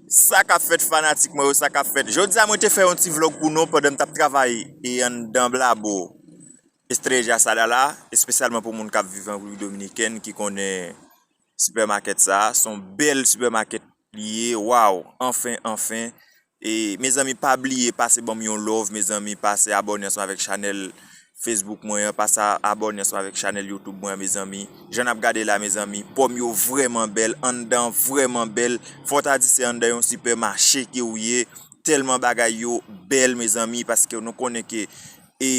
Sa kap fèt fanatik mwen yo sa kap fèt jodi a mwen te fè yon ti vlog pou nou pandan m tap travay e anndan blabo estrella sadala espesyalman pou moun kap viv an repiblik dominikèn ki konnen sipèmakèt sa son bèl sipèmakèt li ye waw anfen anfen e mezanmi pa bliye pase banm yon love mezanmi pase abòne ansanm avèk chanèl Facebook mwen an pase abone ansanm avek chanel YouTube mwen an mezanmi jan nap gade la mezanmi pom yo vreman bel anndan an vreman bel fo ta di se anndan yon super mache ke ou ye telman bagay yo bel mezanmi paske nou konnen ke e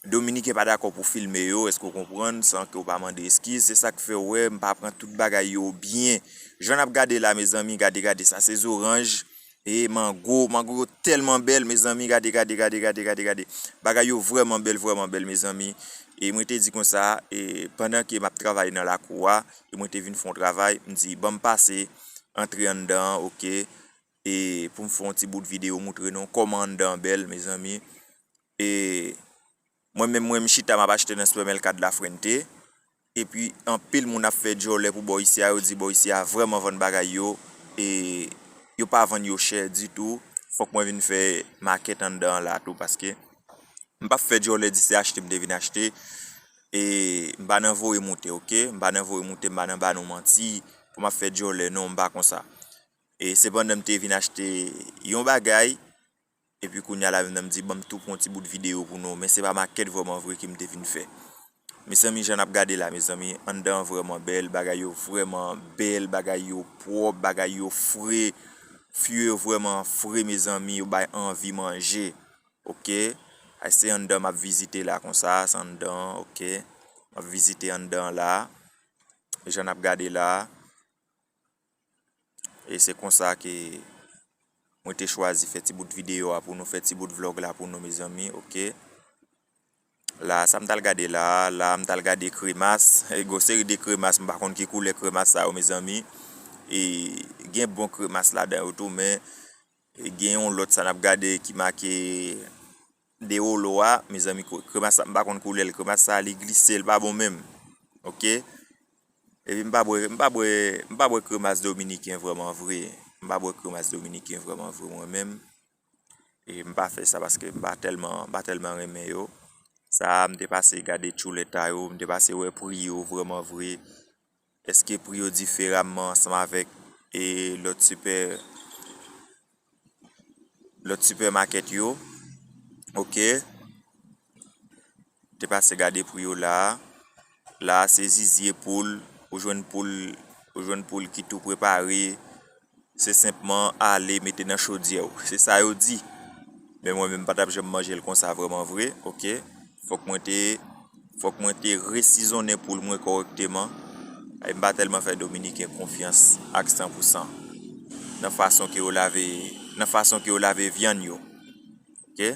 dominiken pa dako pou filme yo eske ou konprann san ke ou pa mande eskiz se sak fe ou we m pa pran tout bagay yo byen jan nap gade la mezanmi gade gade sa se zoranj E mango, mango yo telman bel mezanmi gade gade gade gade gade gade bagay yo vreman bel vreman bel mezanmi e mwen te di konsa e pandan ke map travay nan lakou a e mwen te vin fon travay m di banm pase antre anndan an ok e poum fon ti bout video moutre nou koman anndan an bel mezanmi e. Mwen menm mwen mchita map achte nan supermelcad la frente epi anpil moun ap fè djòlè pou bò isi a yo di bò isi a vrèman vann bagay yo e yo pa vann yo chè ditou fòk mwen vin fè makèt anndan an la tou paske mpap fè djòlè di se achte mte vin achte e mpa nan voye moute ok mpa nan voye moute mpa nan ba nou manti pou map fè djòlè non mpa konsa e sepandan mte vin achte yon bagay Epi kounya la menm nan m di banm tou pran ti bout video pou nou men se pa maket vrèman vre ke m te vin fè mezanmi jan nap gade la mezanmi anndan an vrèman bèl bagay yo vrèman bèl bagay yo pwòp bagay yo fre fwi yo vrèman fre mezanmi yo bay anvi manje ok a se anndan map vizite la konsa se anndan an ok map vizite anndan an la jan nap gade la. E se konsa ke mwen te chwazi fè ti bout videyo a pou nou, fè ti bout vlog la pou nou mezanmi ok. La sa m tal gade la, la m tal gade kremas, gon seri de kremas m pa konn ki koulè kremas sa yo mezanmi. E gen bon kremas ladan yo tou men gen yon lòt sa n ap gade ki make. Derulo a mezanmi kremas sa m pa konn koulèl kremas sa li glise li pa bon menm ok epi m pa bwè m pa bwè m pa bwè kremas dominiken vrèman vre m pa bwè kremas dominiken vrèman vre mwen menm e m pa fè sa paske m pa tèlman m pa tèlman renmen yo sa a m te pase gade chuleta yo m te pase wè pri yo vrèman vre. Eske pri yo diferamman ansanm avèk lòt sipè lòt sipè makèt yo ok te pase gade pri yo la a la a se zizye poul ou jwenn poul ou jwenn poul ki tou prepare. Se senpman ale mete nan chodyè w. Se sa yo di. Men mwen menm m pa t ap janm manje l konsa vrèman vre. Ok. Fòk mwen te, fòk mwen te resizonnen poul mwen kòrèkteman. E m pa tèlman fè dominiken konfyans ak san pou san. Nan fason ke yo lave, nan fason ke yo lave vyann yo. Ok.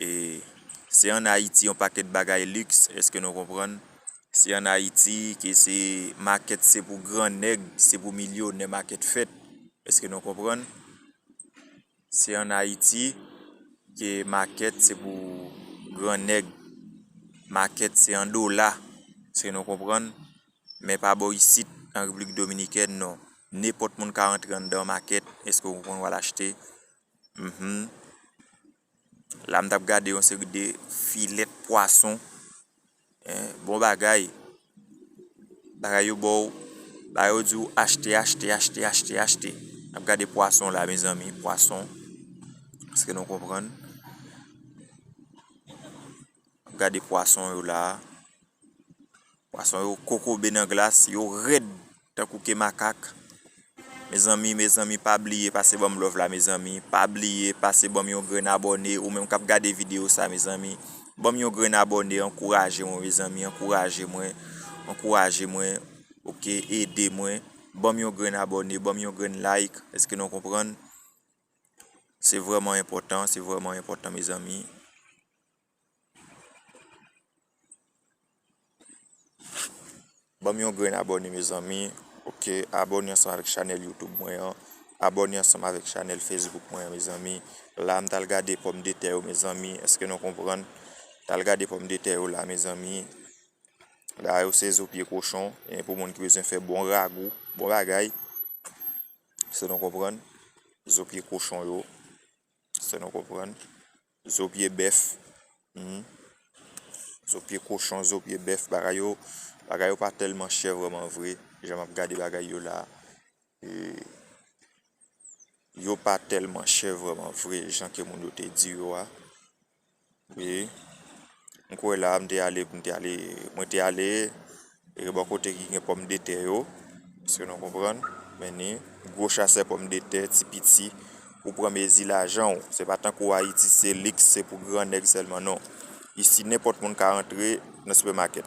E se an Ayiti yon pakèt bagay liks eske nou konprann? Se an Ayiti ke se makèt se pou gran nèg, se pou milyonè makèt fèt eske nou konprann? Se an Ayiti ke makèt se pou gran nèg, makèt se an dola eske nou konprann? Men pa bò isit an Repiblik Dominikèn non, nenpòt moun ka rantre anndan makèt eske ou konprann wal achte, mph. La m tap gade yon seri de filet pwason eh bon bagay bagay yo baw bagay yo diw achte achte achte achte achte nap gade pwason la mezanmi pwason eske nou konprann nap gade pwason yo la. Pwason yo kokobe nan glas, yo rèd tankou ke makak. Mezanmi mezanmi pa bliye pase banm love la mezanmi, pa bliye pase banm yon grenn abòne ou menm kap gade video sa mezanmi, banm yon grenn abòne ankouraje mwen mezanmi ankouraje mwen, ankouraje mwen ok ede mwen, banm yon grenn abòne banm yon grenn like eske nou konprann se vrèman enpòtan se vrèman enpòtan mezanmi. Banm yon grenn abone mezanmi ok abone ansanm avèk chanèl youtube mwen an abone ansanm avèk chanèl facebook mwen an mezanmi lam tal gade pòmdetè yo mezanmi eske nou konprann tal gade pòmdetè yo la mezanmi la yo se zo pye kochon e pou moun ki bezwen fè bon ragou bon bagay se nou konprann zo pye kochon yo se nou konprann. Zo pye bèf humm zo pye kochon zo pye bèf bagay yo bagay yo pa tèlman chè vrèman vre jan map gade bagay yo la yo pa tèlman chè vrèman vre jan ke moun yo te di yo a wi mkwè la mte ale mte ale mwen te ale Rete bò kote ki gen pòmdetè yo, èske nou konprann? Mennen gwo chasè pòmdetè, ti piti, ou pran mezi lajan ou. Se pa tankou Ayiti se liks, se pou gran nèg sèlman non. Isi nenpòt moun ka antre nan sipemakèt.